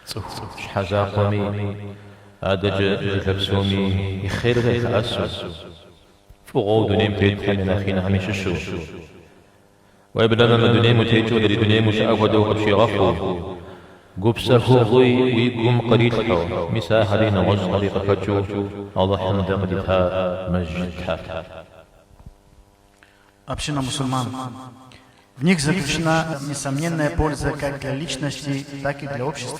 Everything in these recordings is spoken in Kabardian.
Цӏыху щхьэ закъуэми, адэкӏэ жылэ псоми и хъер къылъэӏэсу, фӏыгъуэу дунейм тетхэм я нэхъ инхэм ящыщу, Уеблэмэ мы дунейм утекӏыу адрей дунейм ущыӏэ хуэдэу къыпщигъэхъуу, гупсэхугъуи уи гум кърилъхьэу, мис ахэри нэгъуэщӏхэри къыхэкӏыу Алыхьым дэ къыдита мэжджытхэр. Община мусульман. В них заключена несомненная польза как для личности, так и для общества.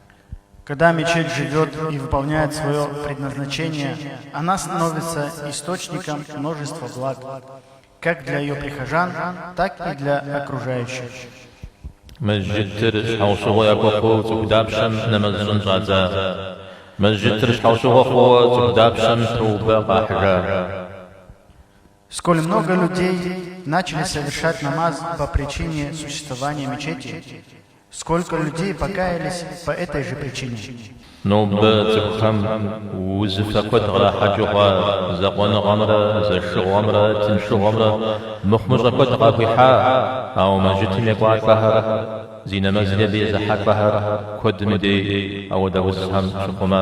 Когда мечеть живет и выполняет свое предназначение, она становится источником множества благ, как для ее прихожан, так и для окружающих. Мэжджытыр щхьэусыгъуэ яхуэхъуу цӏыху дапщэм нэмэз щӏын щӏадза? Мэжджытыр щхьэусыгъуэ хъууэ цӏыху дапщэм тоубэ къахьыжа? Сколь много людей начали совершать намаз по причине существования мечети, сколько людей покаялись по этой же причине? Нобэ цӏыхухэм узыфэ куэд кърахьэкӏыу хъуа закъуэныгъэмрэ зэшыгъуэмрэ тыншыгъуэмрэ мыхъумыщӏэ куэд къахуихьа, ауэ мэжджытым екӏуалӏэхэр, зи нэмэзри абы езыхьэлӏэхэр куэдым дей ауэдэ узхэм щыхъума.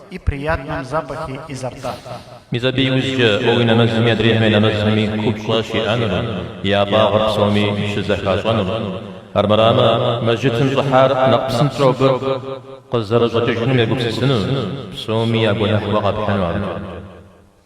и приятном запахе изо рта. Мис абы иужькӏэ уэ уи нэмэзми адрейхэм я нэмэзми купщӏэ щиӏэнур, я фӏагъыр псоми щызэхащӏэнур. Армырамэ, мэжджытым щӏыхьар нэхъ псынщӏэу абы къызэрыщӏэкӏыжыным егупсысыну, псоми я гуэныхь уэ къэпхьыну абы.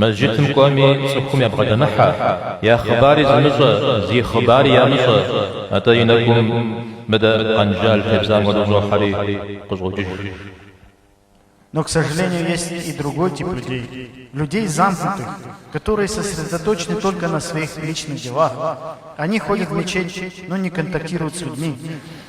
Мэжджытым кӏуэми, цӏыхум ябгъэдэмыхьэ, я хъыбари зымыщӏэ, зи хъыбари ямыщӏэ, атӏэ и нэкӏум мыдэ къэнжал тебзам хуэдэу щӏохьэри, къыщӏокӏыж. Но, к сожалению, есть и другой тип людей, людей замкнутых, которые сосредоточены только на своих личных делах. Они ходят в мечеть, но не контактируют с людьми.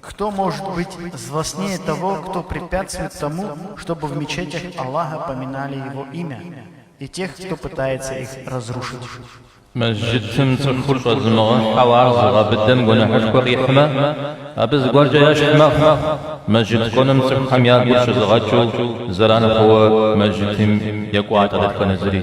Кто может быть злостнее того, кто препятствует тому, чтобы в мечетях Аллаха поминали Его имя, и тех, кто пытается их разрушить? Мэжджытым цӏыхур щӏэзымыгъэхьэу ар зыгъэбыдэм гуэныхьышхуэ къихьмэ, абы зыгуэркӏэ ящхь мэхъу мэжджыт кӏуэным цӏыхухэм я гур щызыгъэкӏыу зэран хъууэ мэжджытым екӏуалӏэ дэтхэнэ зыри.